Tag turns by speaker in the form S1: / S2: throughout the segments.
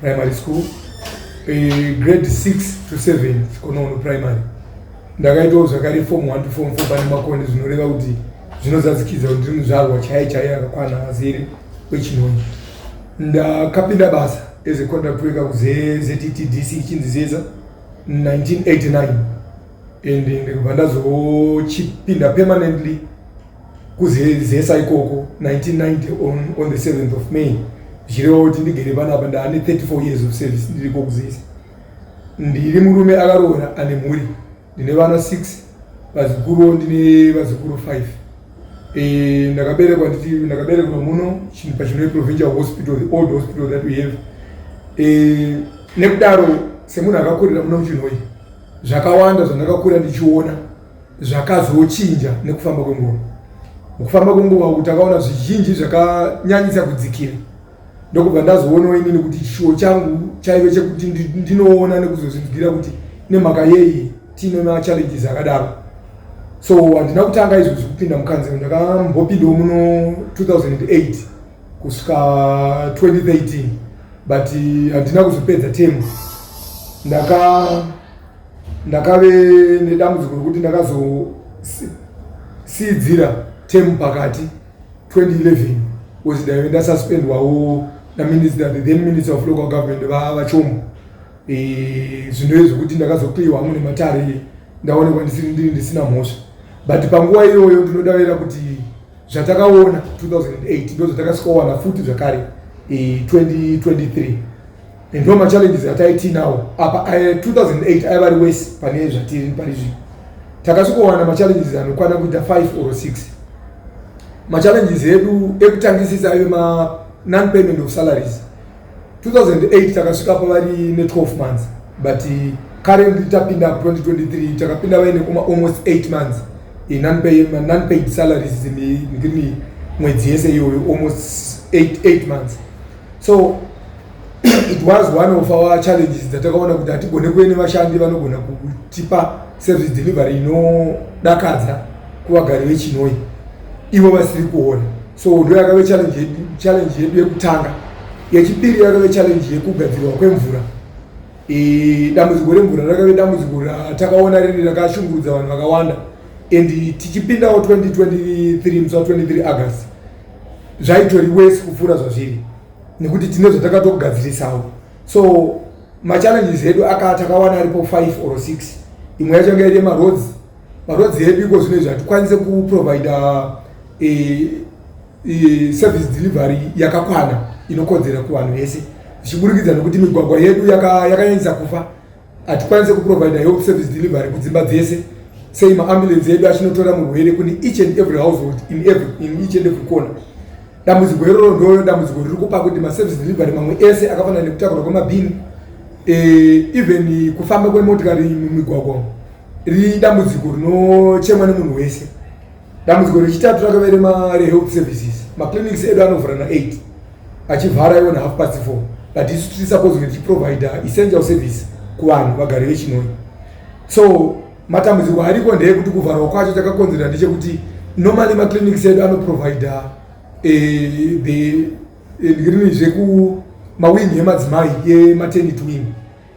S1: primary school eh, grade 6 to 7 sikonono primary ndakaitawo zvakare form 1 to form 4 pane makoni zvinoreva kuti zvinozadzikidza kuti ndiri muzvarwa chaiye chaiye akakwana azere kwechinoni ndakapinda basa as a contract worker kuzettdc ichinzi zeza 1989 and ndikubva ndazochipinda permanently kuzezesa ikoko 1990 on, on the 7th of may zvichireva kuti ndigere panapa ndaane 34 years of service ndiri kokuzesa ndiri murume akaroora ane mhuri ndine vana 6 vazukuru ndine vazukuru 5 e, ndakaberekwa nditi ndakaberekwa muno pachinoe provincial hospital the old hospital that we have e, nekudaro semunhu akakurira muno muchinhoi zvakawanda zvandakakurira ndichiona zvakazochinja nekufamba kwenguva mukufamba kwenguva uku takaona zvizhinji zvakanyanyisa kudzikira ndokubva ndazoonawo inini kuti chishuwo changu chaive chekuti ndinoona nekuzozvinzwira kuti nemhaka yei tiine machallenges akadaro so handina kutanga izvo zvekupinda mukanzero ndakambopindawo muno 2008 kusvika 2013 but handina kuzopedza temu ndaka ndakave nedambudziko rekuti ndakazosiidzira tem pakati 2011 bcause daive ndasuspendwawo naminister the then minister of local government vavachomo eh, zvinove zvekuti ndakazokliwa hamwe nematare ndaonekwa ndisiri ndiri ndisina mhosva but panguva iyoyo ndinodavira kuti zvatakaona 2008 ndozvatakasvikawana futi zvakare 2023 eh, and all machallenges ataitinawo apa 2008 aiva ari wese pane zvatiri pari zvino takasvikowana machallenges anokwana kuita 5 or 6 machallenges edu ekutangisisa aive ma non payment of salaries 2008 takasvika pavari ne 12 months but uh, currently tapinda 2023 takapinda vaine kuma almost 8 months inonpaid salaries dzimii mwedzi yese iyoyo almost 8 months so it was one of our challenges dzatakaona kuti hatigone kuve nevashandi vanogona kutipa service delivery inodakadza kuvagari vechinoi ivo vasiri kuona so ndo yakave challenge yedu yekutanga yechipiri yakave challenge yekugadzirwa kwemvura e, dambudziko remvura rakave dambudziko ratakaona riri rakashungurudza vanhu vakawanda and tichipindawo 2023 musi wa 23 august zvaitori wese kupfuura zvazviri nekuti tine zvatakatogadzirisawo so machallenges edu aka takawana aripo five or six imwe yacho anga iri maroads maroads edu iko zvino izvi hatikwanise kuprovide eh, eh, service delivery yakakwana inokodzera kuvanhu vese zvichiburikidza nekuti migwagwa yedu yakanyanyisa kufa Hatikwanise kuprovider health service delivery kudzimba dzese sei maambulensi edu achinotora murwere kune each and every household in, every, in each and every corner dambudziko iroro ndoyo dambudziko riri kupa kuti maservice delivery mamwe ese akafanana nekutakurwa kwemabhini eh, even kufamba kwemotikari mumigwagwa ridambudziko rinochemwa nemunhu wese dambudziko rechitatu rakave remarehealth services maclinics edu anovhura na8 achivhara iwo nahalf past four but isu tiri suppose kunge tichiprovider essential service kuvanhu vagari vechinoi so matambudziko ariko ndeekuti kuvharwa kwacho takakonzerera ndechekuti normally maclinics edu anoprovider eh, the eh, ndirini zveku mawing emadzimai yematernity wing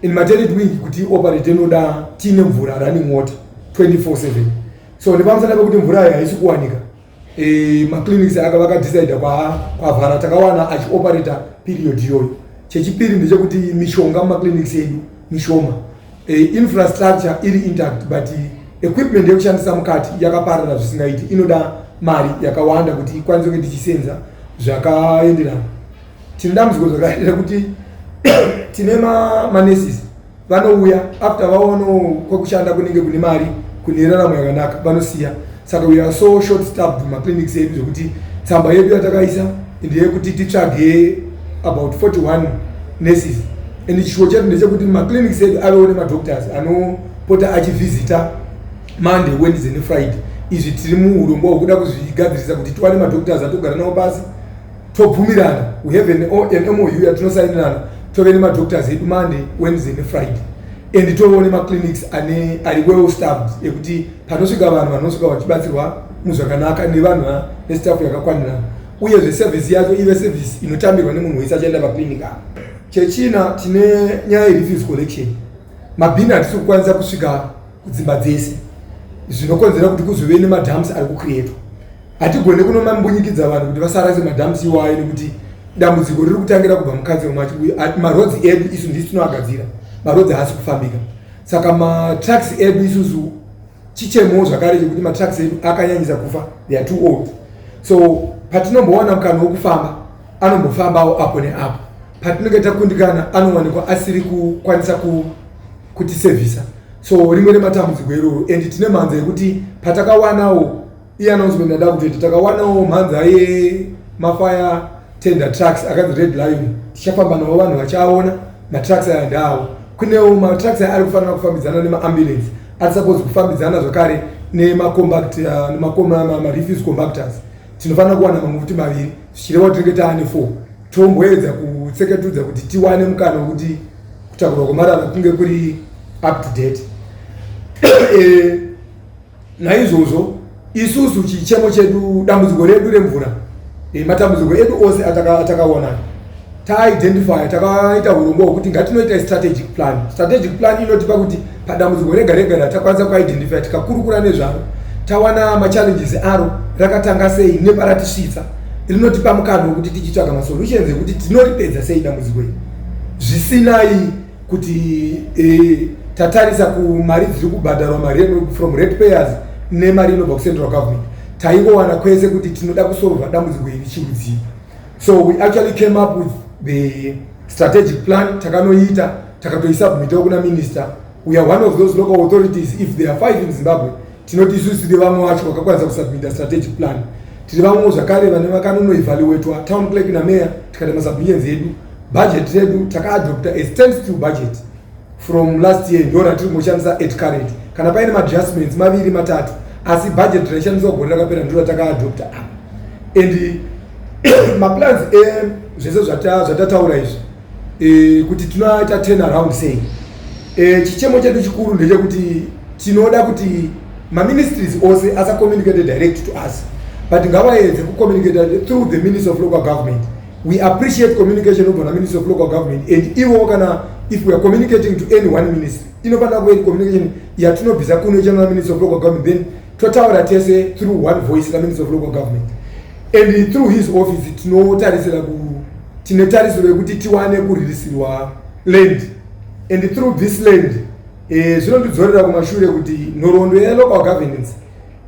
S1: In maternity wing kuti ioperate inoda tiine mvura running water 24/7 so nepamusana pekuti mvura ayo haisi kuwanika e, maclinics aka vakadecide kwavhara takawana achioperata period iyoyo chechipiri ndechekuti mishonga mumaclinics edu mishoma e, infrastructure iri intact but equipment yekushandisa mukati yakaparara zvisingaiti inoda mari yakawanda kuti ikwanise kunge tichisenza zvakaenderana tine dambudziko zvakaitira kuti tine manesis vanouya after vaono kwekushanda kunenge kune mari kune raramo yakanaka vanosiya saka we are so short stabbed maclinics edu zvekuti tsamba yedu yatakaisa ndeyekuti titsvage about 41 nesis and chishuwo chedu ndechekuti maclinics edu avewo nemadoctors anopota achivhizita monday wednesday nefriday izvi tiri muurongwa hwekuda kuzvigadzirisa kuti tiwane madoctors atogara nawo pasi tobvumirana we have an, an mou yatinosainirana tove nemadoctors edu monday wednesday nefriday and tovewo nemaclinics ane ari well staffed ekuti panosvika vanhu vanosvika vachibatsirwa muzvakanaka nevanhu nestaff yakakwanirana uyezve service yacho ive service inotambirwa nemunhu wese achaenda paclinic avo chechina tine nyaya yerefuse collection mabhini hatisi kukwanisa kusvika kudzimba dzese zvinokonzera kuti kuzove nemadams ari kucreatwa hatigone kunomambunyikidza vanhu kuti vasarase madams iwayo nekuti dambudziko riri kutangira kubva mukadzi wemacho uye marodzi edu isu ndisi tinoagadzira marodzi haasi kufambika saka matraks edu isusu chichemo zvakare chekuti matraks edu akanyanyisa kufa they are too old so patinombowana mukana wekufamba anombofambawo apo neapo patinenge takundikana anowanikwa asiri kukwanisa kutisevhisa so rimwe rematambudziko iroro and tine mhanza yekuti patakawanawo Iye announcement yada kutoita takawanawo mhanzi aye mafire tender trucks akanzi red lion tichafamba navo vanhu vachaona matrucks aya ndaawo kunewo matrucks aya ari kufanira kufambidzana nemaambulance ari suppose kufambidzana zvakare nemacompact uh, nemamarefuse compactors tinofanira kuwana mamuti maviri zvichireva kuti tinenge taane four tomboedza kutseketudza kuti tiwane mukana wekuti kutakurwa kwemarara kunge kuri up to date eh, Naizvozvo isusu chichemo chedu dambudziko redu remvura e, matambudziko edu ose atakaona ataka taidentifya takaita hurongwa hwekuti ngatinoita strategic plan strategic plan inotipa kuti padambudziko rega rega ratakwanisa kuidentifya tikakurukura nezvaro tawana machallenges aro rakatanga sei neparatisvitsa rinotipa mukana wekuti tichitsvaga masolutions ekuti tinoripedza sei dambudziko iri zvisinai kuti eh, tatarisa kumari dziri kubhadharwa mari from rate payers nemari inobva kucentral government taingowana kwese kuti tinoda kusorova dambudziko iri chiudzii so we actually came up with the strategic plan takanoita takatoisubmitawo kuna minister we are one of those local authorities if there are five in zimbabwe tinoti isusu tiri vamwe wacho vakakwanisa kusubmita strategic plan tiri vamwewo zvakare vane vakanonoevaluatwa town clerk nameya tikati masubmissions edu Budget redu taka adopta a stand still budget from last year ndo ratiri kungoshandisa at current kana paine maadjustments maviri matatu asi budget raishandiswa gore rakapera ndo rataka adopta apa and maplans e zvese zvatataura izvi e, kuti tinoita turn around sei e, chichemo chedu chikuru ndechekuti tinoda kuti maministries ose asacommunicate direct to us but ngavaedze kucommunicate through the minister of local government We appreciate communication over the Ministry of Local Government and ivo kana if we are communicating to any one ministry inofanira kuve communication yatinobvisa kuno ichana Ministry of Local Government then totaura tese through one voice naMinistry of Local Government and through his office tinotarisira ku tine tarisiro yekuti tiwane kuririsirwa land and through this land eh, zvinondidzorera kumashure kuti nhoroondo yelocal governance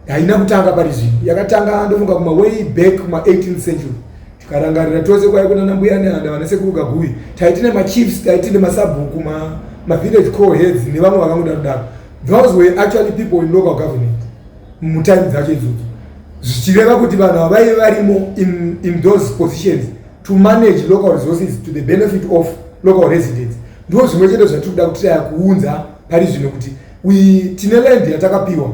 S1: haina kutanga pari zvino yakatanga ndofunga kuma way back kuma 18th century tikarangarira tose kwai kuna nambuya nehanda vana sekuru gaguyi taiti nemachiefs taiti nemasabhuku mavillage co heads nevamwe vakangodaro daro those were actually people in local government mutime dzacho idzodzo zvichireva kuti vanhu avaive varimo in, in those positions to manage local resources to the benefit of local residents ndo zvimwe chete zvatiri kuda kuti taya kuunza pari zvino kuti We tine land yatakapiwa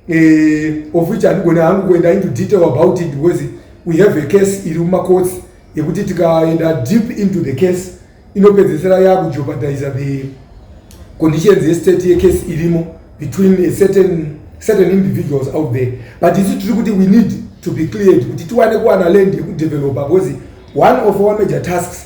S1: eh, of which handigone hangu kuenda into detail about it because we have a case iri mumacourts yekuti tikaenda deep into the case inopedzesera yakujeopardiza the conditions yestate yecase irimo between a certain, certain individuals out there but isu tiri kuti we need to be cleared kuti tiwane kuwana land yekudevelopa because one of our major tasks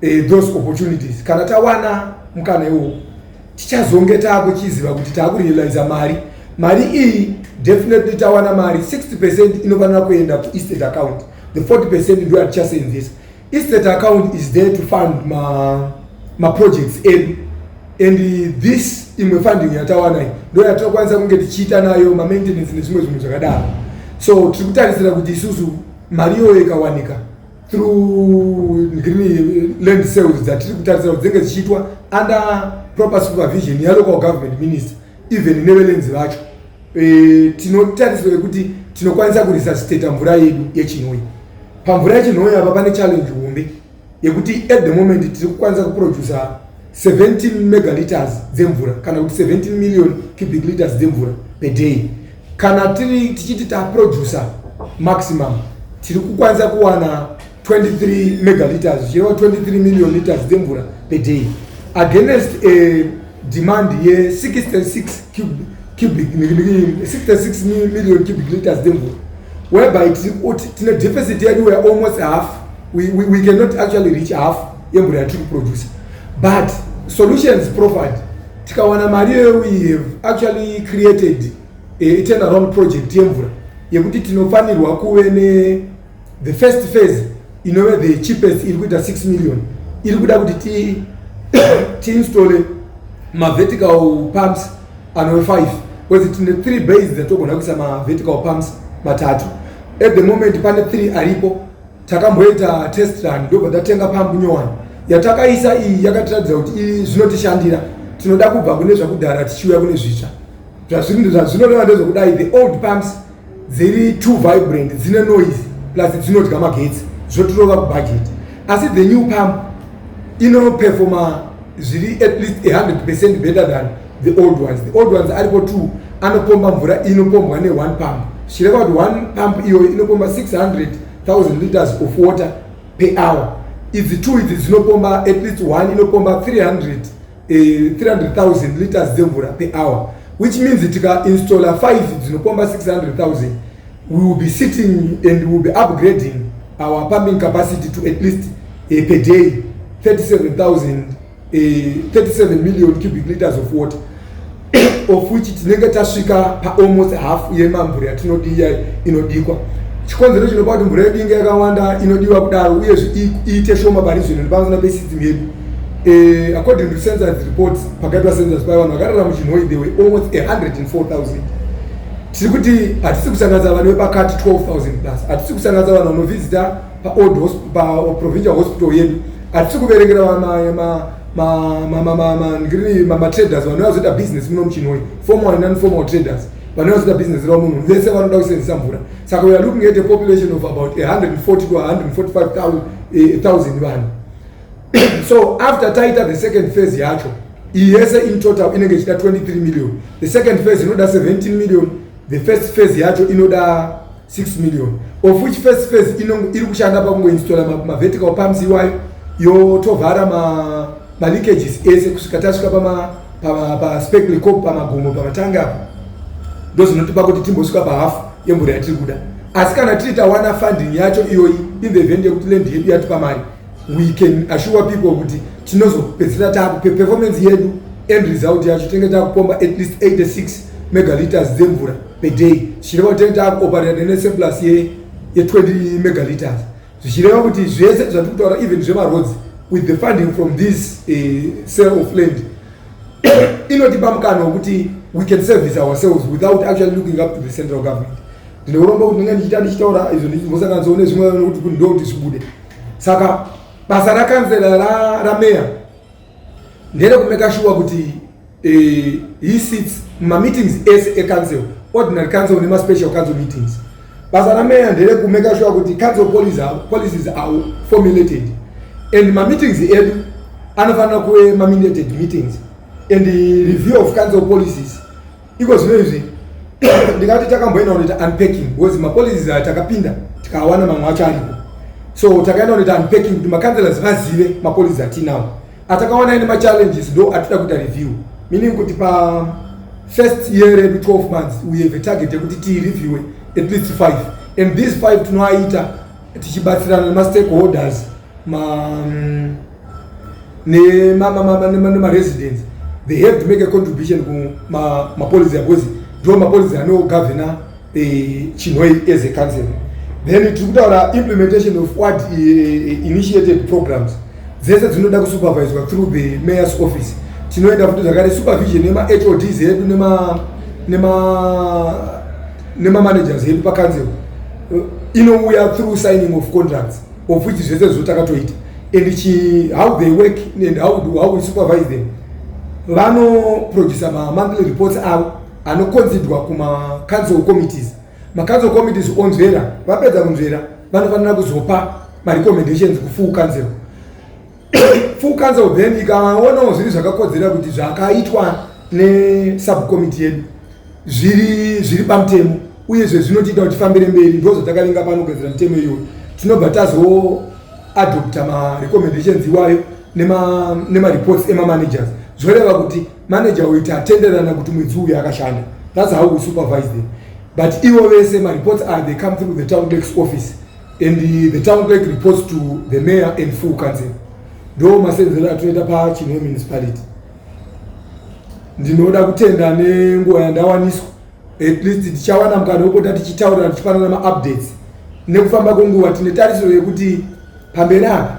S1: eh, those opportunities kana tawana mukana iwowo tichazonge taakuchiziva kuti taakurealiza mari mari iyi definitely tawana mari 60 percent inofanira kuenda kuestate account the 40 percent ndo yatichaseenzesa estate account is there to fund ma, ma projects edu and this imwe funding yatawana iyi ndo yatinokwanisa kunge tichiita nayo mamaintenance nezvimwe zvinhu zvakadaro so tiri kutarisira kuti isusu mari iyoyo ikawanika through green land sales dzatiri kutarisira kuti dzinenge dzichiitwa under proper supervision yalocal government minister even nevelenzi vacho e, tinotarisira kuti tinokwanisa kuresuscitata mvura yedu yechinoi pamvura yechinoi apa pane challenge hombe yekuti at the moment tiri kukwanisa kuproducer 17 megaliters dzemvura kana kuti 17 million cubic liters dzemvura per day kana tiri tichiti taproducer maximum tiri kukwanisa kuwana 23 megaliters zvichireva 23 million liters dzemvura per day against a demand ye66 cubic 66 million cubic liters dzemvura whereby tine deficit yedu wealmost half we, we, we cannot actually reach half yemvura yatiri kuproducer but solutions proffered tikawana mari iyoyo we have actually created atenarond project yemvura yekuti tinofanirwa kuve ne the first phase inove the cheapest iri kuita 6 million iri kuda kuti ti tiinstole mavertical pumps anove 5 bcause tine three base dzatogona kuisa mavertical pumps matatu at the moment pane three aripo takamboita test run ndobva tatenga pambu nyowani yatakaisa iyi yakatiratidza kuti iyi zvinotishandira tinoda kubva kune zvakudhara tichiuya kune zvitsva zvazvinoreva ndezvekudai the old pumps dziri two vibrant dzine noise plus dzinodya magetsi zvotirova kubhajeti asi the new pump inoperfoma zviri at least 100 percent better than the old ones the old ones ariko two anopomba mvura inopombwa ne one pump zvichireva kuti one pump iyoyo inopomba 600000 liters of water per hour idzi two idzi dzinopomba at least one inopomba 300 eh, 300000 liters dzemvura per hour which means tikainstalla five dzinopomba 600000 we will be sitting and we will be upgrading our pumping capacity to at least eh, per day 37000 37 eh, million cubic liters of water of which tinenge tasvika paalmost half yemamvura yatinodiya inodikwa chikonzero chinopa kuti mvura yedu inge yakawanda inodiwa kudaro uyezve iite shoma pari zvino nepamusana pesystem yedu eh, according to sensors reports pakaitwa sensors paya vanhu vakarara muchinhoi they were almost 104000 tiri kuti hatisi kusanganisa vanhu vepakati 12000 plus hatisi kusanganisa vanhu vanovhizita paold paprovincial hospital yedu hatisi kuverengera matraders vanouya kuzoita business muno muchinoi formal and nonformal traders vanouya kuzoita business ravo munhu vese vanoda kusenzisa mvura saka weare looking at a population of about 140 to 145000 eh, vanhu so after taita the second phase yacho iyi yese in total inenge ichida 23 million the second phase inoda 17 million the first phase yacho inoda 6 million of which first phase iri kushanda pakungoinstola mavertical pumps iwayo yotovhara maleakages ese kusvika tasvika paspecl cop pamagomo pamatangi apo ndozvinotipa kuti timbosvika pahafu yemvura yatiri kuda asi kana tiri tawana funding yacho iyoyi in the event yekuti land yedu yatipa mari we can assure people kuti tinozopedzisira taakupe performance yedu end result yacho tinenge taakupomba at least 86 megalitres dzemvura peday zvichireva kuti tinenge taakuoperera nene surplus ye, ye 20 megalitres zvichireva kuti zvese zvatiri kutaura even zvemaroads with the funding from this uh, eh, sale of land inotipa mukana wekuti we can service ourselves without actually looking up to the central government ndinouromba kuti ndinge ndichiita ndichitaura izvo ndichizosanganisawo nezvimwe kuti ndo kuti zvibude saka basa rakanzera rameya nderekumeka shuwa kuti eh, he sits mumameetings ese ecouncil ordinary council nemaspecial council meetings basa rameya nderekumeka shuwa kuti council policies are formulated and mameetings edu anofanira kuve maminated meetings and review of council policies iko zvino izvi ndingati takamboenda kunoita unpacking because mapolicies aya takapinda tikawana mamwe acho aripo so takaenda kunoita unpacking kuti macancelors vazive mapolicies atinawo atakawana ine machallenges ndo atida kuita review meaning kuti pa first year redu 12 months we have a target yekuti tiireviewe at least five and these five tinoaita tichibatsirana nemastakeholders ma um, nemaresidence they have to make a contribution kumapolicy akozi ndo mapolicy anogavhena eh, chinhoi as a council then tiri kutaura implementation of what eh, eh, initiated programs dzese dzinoda kusuperviswa through the mayors office tinoenda futi zvakare supervision nemahods edu nema nemamanagers edu pacouncil inouya through signing of contracts of which zvese zvo takatoita and chi how they work and how do how we supervise them vano producer ma monthly reports avo anokonzidwa kuma council committees ma council committees onzvera vapedza kunzvera vanofanira kuzopa ma recommendations kufull council full council then ikaonawo zviri zvakakodzera kuti zvakaitwa nesubcommittee yedu zviri zviri pamutemo uyezve zvinotiita kuti tifambire mberi ndozvatakavinga pano kugadzira mitemo iyoyo tinobva tazoadopta marecommendations iwayo nemareports nema emamanagers zvoreva kuti manager uyu tatenderana kuti mwedzi uyu akashanda thats how we supervise them but ivo vese mareports are they come through the town dex office and the, the town clerk reports to the mayor and full council ndo masenzero atinoita pachinwe municipality ndinoda kutenda nenguva yandawaniswa at least tichawana mukana wekupota tichitaurira tichipanana maupdates nekufamba kwenguva tine tarisiro yekuti pamberi apa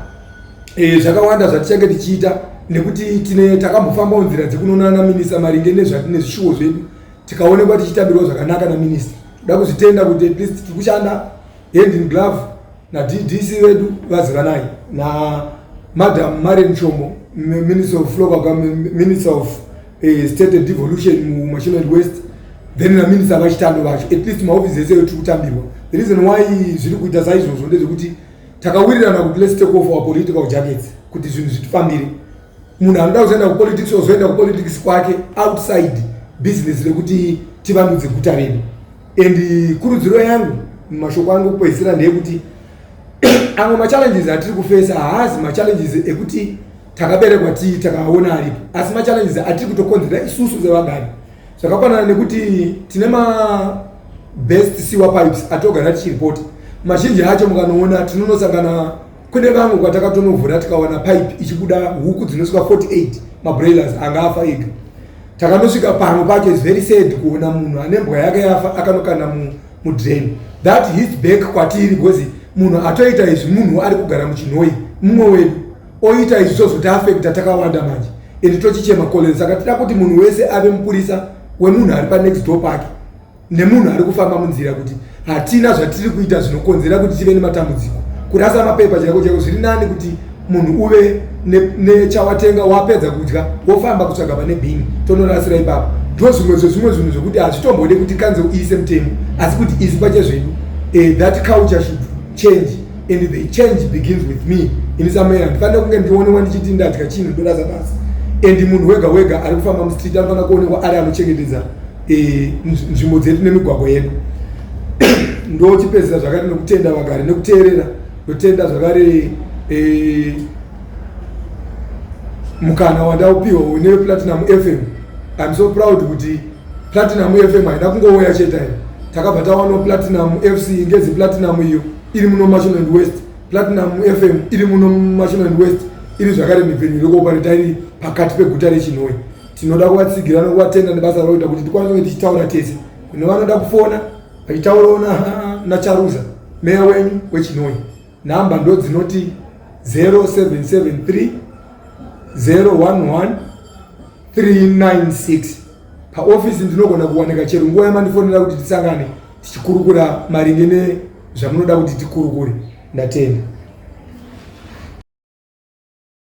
S1: e, zvakawanda zvatichange tichiita nekuti tine takambofambawo nzira dzekunonana minisa maringe nezvatine zvishuwo zvedu tikaonekwa tichitambirwa zvakanaka naminista toda kuzvitenda kuti at least tiri kushanda hand in glove nadc vedu vazivanai namadam marian chomo minister of local government minister of uh, state and devolution mumasholand west then naminista vachitando vacho at least mahofisi ese tiri kutambirwa the reason why zviri kuita saizvozvo ndezvekuti takawirirana kuti let's take off our political jackets kuti zvinhu zvitifambire munhu anoda kuzoenda kupolitics ozoenda kupolitics kwake outside business rekuti tivandudze guta redu and kurudziro yangu mumashoko angu kupedzisira ndeyekuti amwe machallenges atiri kufesa haazi machallenges ekuti takaberekwa tii takaona aripo asi machallenges atiri kutokonzera isusu sevagari zvakafanana nekuti tine mabest sewer pipes atogara tichiripoti mazhinji acho mukanoona tinonosangana kune vamwe kwatakatovhura tikawana pipe ichibuda huku dzinosvika 48 mabroilers anga afa ega takanosvika pamwe pacho is very sad kuona munhu ane mbwa yake yafa akanokana mudrain that his back kwatiri because munhu atoita izvi munhu ari kugara muchinhoi mumwe wedu oita izvi zvozoti afekta takawanda manje and tochichema koleni saka tida kuti munhu wese ave mupurisa wemunhu ari panext door pake nemunhu ari kufamba munzira kuti hatina zvatiri kuita zvinokonzera kuti tive nematambudziko kurasa mapepa chaiko chaiko zviri nani kuti munhu uve nechawatenga ne wapedza kudya wofamba kutsvaga pane bhini tonorasira ipapo ndo zvimwe zvezvimwe zvinhu zvekuti hazvitombode kuti kanze uise mutemo asi kuti isu pachezvedu eh, that culture should change and the change begins with me ini samaera ndifanira kunge ndionewa ndichiti ndadya chinhu ndorasa pasi and munhu wega wega ari kufamba mustreet anofanira kuonekwa ari anochengetedza e, nzvimbo dzedu nemigwagwa yedu ndochipedzisa zvakare nokutenda vagari nekuteerera ndotenda zvakare e, mukana wandaupiwa une platinum fm im so proud kuti platinum fm haina kungouya chete iyo takabva tawana platinum fc ngezi platinum iyo iri muno machiland west platinum fm iri muno machiland west iri zvakare mipfenyu irikuopareta iri pakati peguta rechinoi tinoda kuvatsigira nokuvatenda nebasa rauita kuti tikwanise kunge tichitaura tese kune vanoda kufona vachitaurawo nacharuza meya wenyu wechinoi nhamba ndo dzinoti 0773 011 396 paofisi ndinogona kuwanika chero nguva yamandifonera kuti tisangane tichikurukura maringe nezvamunoda kuti tikurukure ndatenda